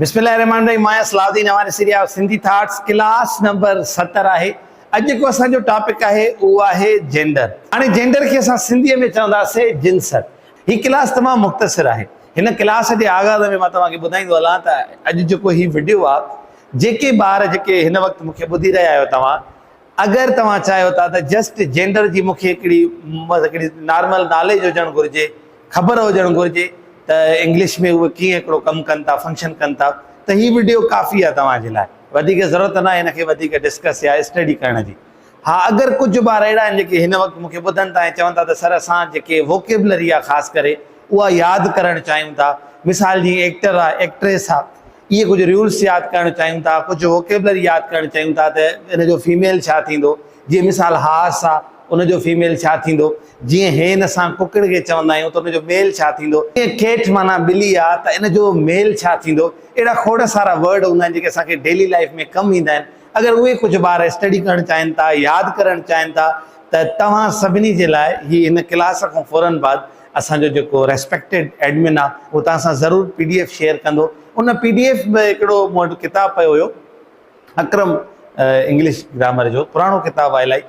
بسم الله الرحمن الرحيم ماهيان صلاح الدين اوهان ڏسي رهيا آهيو سنڌي ٿاٽس ڪلاس نمبر ستر آهي اڄ جيڪو اسان جو ٽاپڪ آهي اهو آهي جينڊر هاڻي جينڊر کي اسان سنڌي ۾ چونداسين جنسٽ هي ڪلاس تمام مختصر آهي هن ڪلاس جي آغاز ۾ مان توهان کي ٻڌائيندو هلان ته اڄ جيڪو هي وڊيو آهي جيڪي ٻار جيڪي هن وقت مون کي ٻڌي رهيا آهيو توهان اگر توهان چاهيو ٿا ته جسٽ جينڊر جي مونکي هڪڙي هڪڙي نارمل ناليج هجڻ گهرجي خبر هجڻ گهرجي ته انگلش ۾ اهي ڪيئن هڪڙو ڪم ڪن ٿا فنڪشن ڪن ٿا ته هي وڊيو ڪافي آهي توهان جي لاء وڌيڪ ضرورت ناهي هن کي وڌيڪ ڊسڪس يا اسٽڊي ڪرڻ جي ها اگر ڪجهه ٻار اهڙا آهن جيڪي هن وقت مونکي ٻڌن ٿا ۽ چون ٿا ته سر اسان جيڪي ووڪيبلري آهي خاص ڪري اها ياد ڪرڻ چاهيون ٿا مثال جي ايڪٽر آهي ايڪٽريس آهي اهي ڪجهه ريولس ياد ڪرڻ چاهيون ٿا، ڪجهه ووڪيبلري ياد ڪرڻ چاهيون ٿا ته ان جو فيميل ڇا ٿيندو؟ جيئن مثال هارس آ ان جو فيميل ڇا ٿيندو؟ جيئن هين اسان ڪڪڙ کي چوندا آهيون ته ان جو ميل ڇا ٿيندو؟ جيئن ڪيٽ معنيٰ ٻلي آ ته ان جو ميل ڇا ٿيندو؟ اهڙا کوڙ سارا ورڊ هوندا آهن جيڪي اسان کي ڊيلي لائيف ۾ ڪم ايندا آهن. اگر اهي ڪجهه ٻار اسٽڊي ڪرڻ چاهين ٿا، ياد ڪرڻ چاهين ٿا ته توهان سڀني جي لاء هي هن ڪلاس کان فورن بعد اسان جو جيڪو ريسپيڪٽيڊ ايڊمن آ اهو توهان سان ضرور پي ڊي ايف شيئر ڪندو ان پي ڊي ايف ۾ هڪڙو مون وٽ ڪتاب پيو هيو اڪرم انگلش گرامر جو پراڻو ڪتاب آ الائي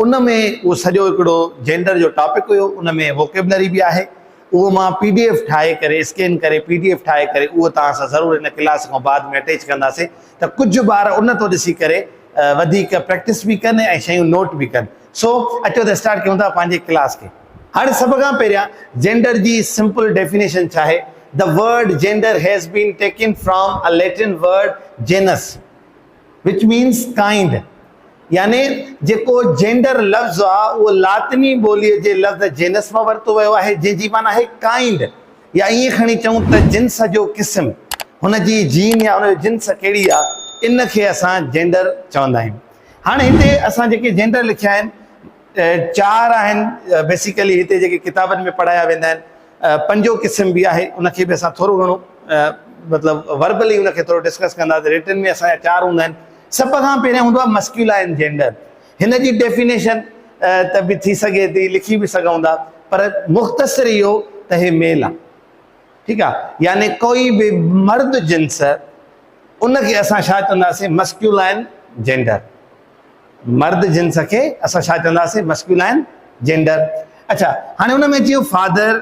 ان ۾ اهو سڄو هڪڙو جينڊر جو ٽاپڪ هيو ان ۾ ووڪيبلري به آهي اهو مان پي ڊي ايف ٺاهي ڪري اسڪين ڪري پي ڊي ايف ٺاهي ڪري اهو توهان سان ضرور هن ڪلاس کان بعد ۾ اٽيچ ڪنداسي ته ڪجهه ٻار ان تو ڏسي ڪري وڌيڪ پريڪٽس به ڪن ۽ شيون نوٽ به ڪن سو اچو ته اسٽارٽ ڪيون ٿا پنهنجي ڪلاس کي هاڻي سڀ کان پهريان جينڊر جي سمپل ڊيفينيشن ڇا آهي؟ The word gender has been taken from a Latin word genus which means kind يعني جيڪو جينڊر لفظ آهي اهو لاطني ٻولي جي لفظ جينس مان ورتو ويو آهي جنهن جي معنيٰ آهي ڪائنڊ يا ائين کڻي چئون ته جنس جو قسم هن جي جين يا هن جو جنس ڪهڙي آهي ان کي اسان جينڊر چوندا آهيون هاڻي هتي اسان جيڪي جينڊر لکيا آهن چار آهن بيسيڪلي هتي جيڪي ڪتابن ۾ پڙهايا ويندا آهن پنجون قسم به آهي ان کي به اسان ٿورو گهڻو مطلب وربلي ان کي ٿورو ڊسڪس ڪنداسين رٽن ۾ اسان جا چار هوندا آهن سڀ کان پهريان هوندو آهي مسڪيولائن جينڊر هن جي ڊيفينيشن ته به ٿي سگهي ٿي لکي به سگهون ٿا پر مختصر اهو ته هي ميل آهي ٺيڪ آهي يعني ڪوئي به مرد جنس ان کي اسان ڇا چونداسين مسڪيولائن جينڊر مرد جنس کي اسان ڇا چونداسين مسڪيولائن جينڊر اڇا هاڻي ان ۾ جيئن فادر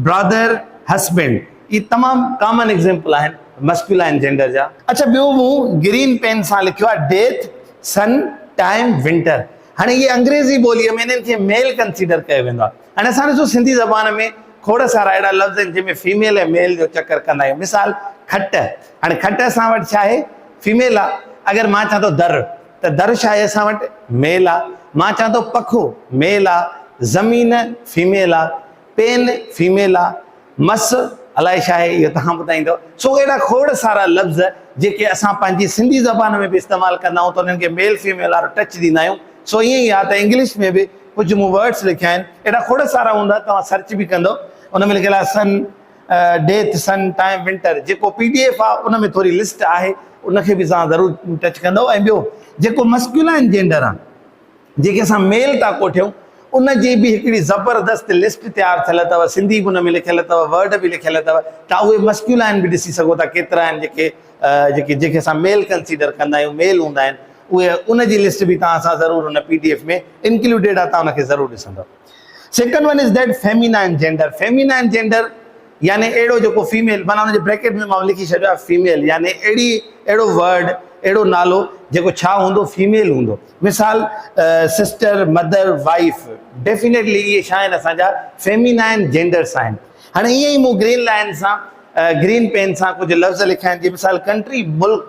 برادر هسبينڊ هي تمام ڪامن ايگزيمپل آهن مسڪيولائن جينڊر جا اڇا ٻيو مون گرين پين سان لکيو آهي ڊيٿ سن ٽائيم ونٽر هاڻي هي انگريزي ٻوليء ۾ انهن کي ميل ڪنسيڊر ڪيو ويندو آهي هاڻي اسان ڏسو سنڌي زبان ۾ کوڙ سارا اهڙا لفظ آهن جنهن ۾ فيميل ۽ ميل جو چڪر ڪندا آهيون مثال کٽ هاڻي کٽ اسان وٽ ڇا آهي فيميل آ، اگر مان چان ٿو در ته در ڇا آهي اسان وٽ؟ ميل آ، مان چان ٿو پکو، ميل آ، زمين، فيميل آ، پين، فيميل آ، مس، الائي ڇا آهي اهو توهان ٻڌائيندؤ. سو اهڙا کوڙ سارا لفظ جيڪي اسان پنهنجي سنڌي زبان ۾ به استعمال ڪندا آهيون ته انهن کي ميل فيميل وارو ٽچ ڏيندا آهيون سو ائين ئي آ ته انگلش ۾ به ڪجهه مون ورڊس لکيا آهن اهڙا کوڙ سارا هوندا توهان سرچ به ڪندؤ ان ۾ لکيل آ sun death sun time winter جيڪو پي ڊي ايف آ ان ۾ ٿوري لسٽ آهي ان کي به سان ضرور ٽچ ڪندو ۽ ٻيو جيڪو مسڪيولائن جينڊر آ جيڪي اسان ميل ٿا ڪوٺيون ان جي به هڪڙي زبردست لسٽ تيار ٿيل اٿو سنڌي به ان ۾ لکيل اٿو ورڊ به لکيل اٿو تان اهي مسڪيولائن به ڏسي سگهو ٿا ڪيترا آهن جيڪي جيڪي جيڪي اسان ميل ڪنسيڊر ڪندا آهيون ميل هوندا آهن اهي ان جي لسٽ به تان اسان ضرور ان پي ڊي ايف ۾ انڪلوڊيڊ آ تان ان کي ضرور ڏسندو second one is that feminine gender, feminine gender يعني اهڙو جيڪو فيميل معنيٰ ان جي بريڪيٽ ۾ مون لکي ڇڏيو آهي فيميل يعني اهڙي اهڙو ورڊ اهڙو نالو جيڪو ڇا هوندو فيميل هوندو مثال سسٽر مدر وائيف ڊيفينيٽلي اهي ڇا آهن اسان جا فيمينائن جينڊرس آهن هاڻي ائين ئي مون گرين لائن سان گرين پين سان ڪجهه لفظ لکيا آهن جي مثال ڪنٽري ملڪ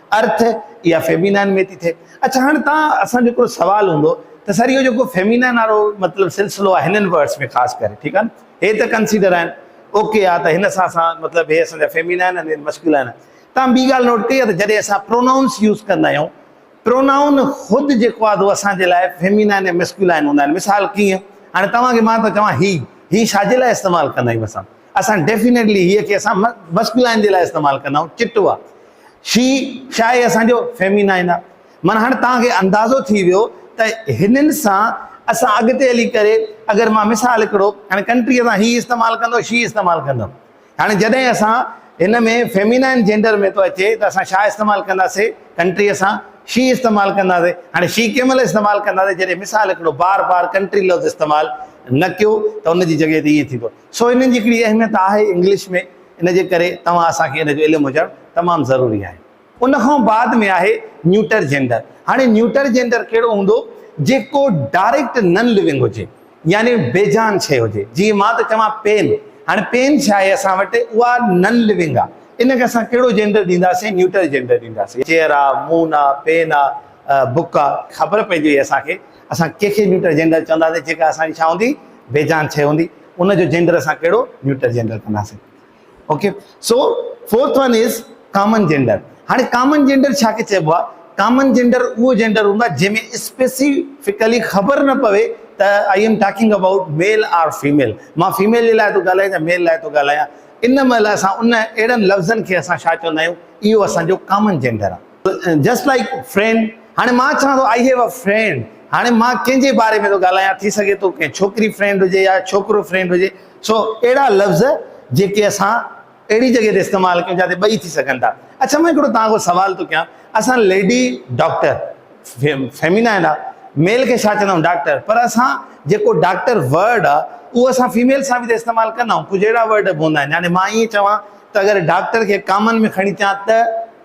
ارٿ اها فيمينائن ۾ ٿي ٿئي. اڇا هاڻي توهان اسان جو هڪڙو سوال هوندو ته سر اهو جيڪو فيمينائن وارو مطلب سلسلو آهي هنن ورڊس ۾ خاص ڪري ٺيڪ آهي نه هي ته ڪنسيڊر آهن اوڪي آ ته هن سان اسان مطلب هي اسان جا فيمينائن آهن هي مسڪيولائن آهن توهان ٻي ڳالهه نوٽ ڪئي آهي ته جڏهن اسان پرونائونس يوز ڪندا آهيون پرونائون خود جيڪو آهي اهو اسان جي لاء فيمينائن ۽ مسڪيولائن هوندا آهن مثال ڪيئن هاڻي توهان کي مان ٿو چوان هي هي ڇا جي لاء استعمال ڪندا آهيون اسان اسان ڊيفينيٽلي هيء کي اسان مسڪولائن جي لاء استعمال ڪندا آهيون چٽ هئا شي شاهي اسان جو فيمينائن آهي معنيٰ هاڻي توهان کي اندازو ٿي ويو ته هنن سان اسان اڳتي هلي ڪري اگر مان مثال هڪڙو هاڻي ڪنٽريء سان هي استعمال ڪندو شي استعمال ڪندو هاڻي جڏهن اسان هن ۾ فيمينائن جينڊر ۾ ٿو اچي ته اسان شاهه استعمال ڪنداسي ڪنٽريء سان شي استعمال ڪنداسي هاڻي شي ڪنهن مهل استعمال ڪنداسي جڏهن مثال هڪڙو بار بار ڪنٽري لفظ استعمال نه ڪيو ته ان جي جڳهه تي ائين ٿيندو سو انهن جي هڪڙي اهميت آهي انگلش ۾ ان جي ڪري توهان اسان کي ان جو علم هجڻ تمام ضروري آهي. ان کان بعد ۾ آهي نيوٽر جينڊر هاڻي نيوٽر جينڊر ڪهڙو هوندو جيڪو ڊائريڪٽ نن لوئنگ هجي يعني بي جان شيء هجي جيئن مان ٿو چوان پين هاڻي پين ڇا آهي اسان وٽ اها نن لوئنگ آهي ان کي اسان ڪهڙو جينڊر ڏينداسين نيوٽر جينڊر ڏينداسين چيئر آهي مون آهي پين آهي بڪ آهي. خبر پئجي وئي اسان کي اسان ڪنهن کي نيوٽر جينڊر چونداسين جيڪا اسان جي ڇا هوندي بي جان شيء هوندي ان جو جينڊر اسان ڪهڙو نيوٽر جينڊر ڪنداسين okay so fourth one is common gender هاڻي ڪامن جينڊر ڇا کي چئبو آهي ڪامن جينڊر اهو جينڊر هوندو آهي جنهن ۾ اسپيسيفڪلي خبر نه پوي ته I am talking about male or female مان فيميل جي لاء ٿو ڳالهايان يا ميل لاء ٿو ڳالهايان ان مهل اسان ان اهڙن لفظن کي اسان ڇا چوندا آهيون اهو اسان جو ڪامن جينڊر آهي جسٽ لائيڪ فرينڊ هاڻي مان چوان ٿو آئي هيو ا فرينڊ هاڻي مان ڪنهن جي باري ۾ ٿو ڳالهايان ٿي سگهي ٿو ڪنهن ڇوڪري فرينڊ هجي يا ڇوڪرو فرينڊ هجي سو اهڙا لفظ جيڪي اسان اهڙي جڳهه تي استعمال ڪيون جتي ٻئي ٿي سگهن ٿا اڇا مان هڪڙو توهان کان سوال ٿو ڪيان اسان ليڊي ڊاڪٽر فيمينا آهن ميل کي ڇا چوندا آهيون ڊاڪٽر پر اسان جيڪو ڊاڪٽر ورڊ آ اهو اسان فيميل سان به استعمال ڪندا آهيون ڪجهه اهڙا ورڊ به هوندا آهن يعني مان ائين چوان ته اگر ڊاڪٽر کي ڪامن ۾ کڻي چان ته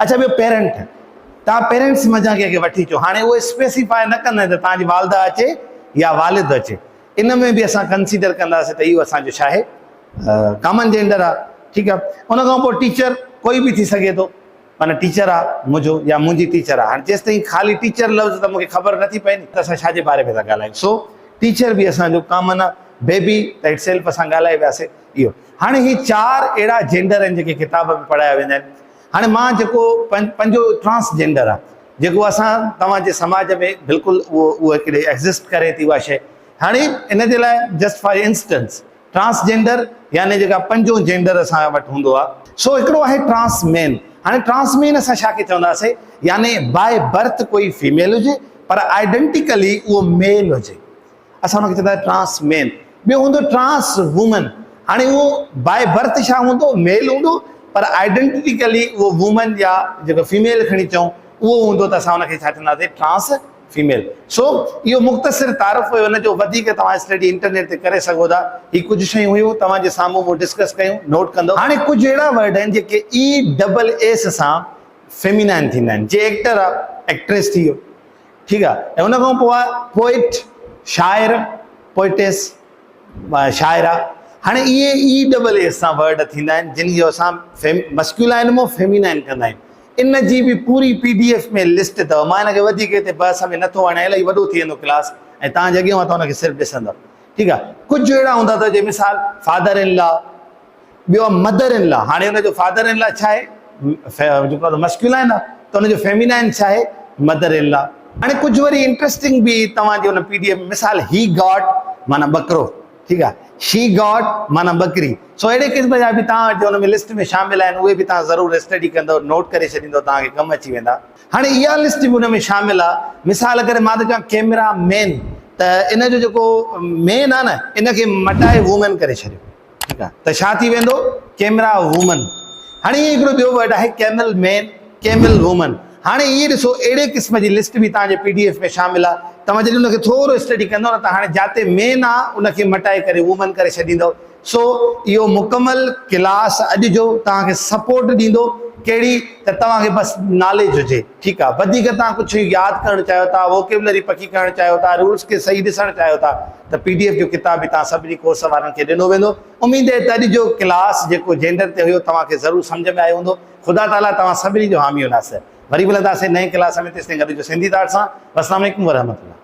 اڇا ٻيو پيرنٽ توهان پيرنٽس منجهان ڪنهن کي وٺي اچو هاڻي اهو اسپيسيفاء نه ڪندا ته توهان جي والده اچي يا والد اچي ان ۾ به اسان ڪنسيڊر ڪنداسين ته اهو اسان جو ڇاهي ڪامن جينڊر آهي ٺيڪ آهي ان کان پوء ٽيچر ڪوئي به ٿي سگهي ٿو معنيٰ ٽيچر آ منهنجو يا منهنجي ٽيچر آ هاڻي جيستائين خالي ٽيچر لفظ ته مونکي خبر نه ٿي پئي ته اسان ڇا جي باري ۾ ٿا ڳالهايون سو ٽيچر به اسان جو ڪامن آ بيبي ته اٽسيلف اسان ڳالهائي وياسي اهو هاڻي هي چار اهڙا جينڊر آهن جيڪي ڪتاب ۾ پڙهايا ويندا آهن هاڻي مان جيڪو پنهنجو ٽرانس جينڊر آهي جيڪو اسان توهان جي سماج ۾ بلڪل اهو اهو هڪڙي ايگزسٽ ڪري ٿي اها شي هاڻي ان جي لاء just for instance transgender يعني جيڪا پنجون جينڊر اسان وٽ هوندو آهي سو هڪڙو آهي ٽرانس مين هاڻي ٽرانس مين اسان ڇا کي چونداسي يعني باء برٿ ڪوئي فيميل هجي پر آئيڊنٽيڪلي اهو ميل هجي اسان ان کي چوندا آهيون ٽرانس مين، ٻيو هوندو ٽرانس وومن، هاڻي اهو باء برٿ ڇا هوندو ميل هوندو پر آئيڊنٽيڪلي اهو وومن يا جيڪو فيميل کڻي چئون اهو هوندو ته اسان ان کي ڇا چونداسين ٽرانس فيميل. سو اهو مختصر تعارف هيو ان جو وڌيڪ توهان اسٽڊي انٽرنيٽ تي ڪري سگهو ٿا. هي ڪجهه شيون هيون توهان جي سامهون مون ڊسڪس ڪيون نوٽ ڪندو. هاڻي ڪجهه اهڙا ورڊ آهن جيڪي اي ڊبل ايس سان فيمينائن ٿيندا آهن جي ايڪٽر آهي ايڪٽريس ٿي ويو ٺيڪ آ ۽ ان کان پوء پوئٽ، شاعر، Poetess، شاعره، هاڻي اهي ئي ڊبل ايس سان ورڊ ٿيندا آهن جن جو اسان مسڪيولائن مون فيمينائن ڪندا آهيون. ان جي به پوري پي ڊي ايف ۾ لسٽ اٿو مان ان کي وڌيڪ هتي بحث ۾ نٿو آڻيان الائي وڏو ٿي ويندو ڪلاس ۽ توهان جي اڳيان اوهان ته ان کي صرف ڏسندؤ ٺيڪ آ ڪجهه اهڙا هوندا اٿو جي مثال فادر ان لا، ٻيو آ مدر ان لا، هاڻي ان جو فادر ان لا ڇا آهي؟ جيڪو آ مسڪيولا آهي نه ته ان جو فيمينائن ڇا آهي؟ Mother in law. هاڻي ڪجهه وري انٽرسٽنگ به توهان جي ان پي ڊي ايف ۾ مثال هي گاٽ معنيٰ ٻڪرو ٺيڪ آهي شي گاٽ معنيٰ ٻڪري سو اهڙي قسم جا به توهان وٽ ان ۾ لسٽ ۾ شامل آهن اهي به توهان ضرور اسٽڊي ڪندو نوٽ ڪري ڇڏيندو توهان کي ڪم اچي ويندا هاڻي اها لسٽ به ان ۾ شامل آ مثال ڪري مان ٿو چوان ڪيمرا مين ته ان جو جيڪو مين آ نه ان کي مٽائي وومين ڪري ڇڏيو ٺيڪ آ ته ڇا ٿي ويندو ڪيمرا وومن هاڻي هي هڪڙو ٻيو ورڊ آهي ڪيمل مين ڪيمل وومن هاڻي هي ڏسو اهڙي قسم جي لسٽ به توهان جي پي ڊي ايف ۾ شامل آ توهان جڏهن ان کي ٿورو اسٽڊي ڪندو نه ته هاڻي جاتي مين آ ان کي مٽائي ڪري وومن ڪري ڇڏيندو سو اهو مڪمل ڪلاس اڄ جو توهان کي سپورٽ ڏيندو ڪهڙي ته توهان کي بس ناليج هجي ٺيڪ آ وڌيڪ توهان ڪجهه ياد ڪرڻ چاهيو ٿا ووڪيبلري پڪي ڪرڻ چاهيو ٿا رولز کي صحيح ڏسڻ چاهيو ٿا ته پي ڊي ايف جو ڪتاب به توهان سڀني ڪورس وارن کي ڏنو ويندو. اميد اهي ته اڄ جو ڪلاس جيڪو جينڊر تي هيو توهان کي ضرور سمجهه ۾ آيو هوندو. خدا تعالي توهان سڀني جو حامي و ناصر. وري ملنداسين نئين ڪلاس ۾ تيستائين گڏ هجو سنڌي تارڙ سان. والسلام عليڪم ورحمة الله.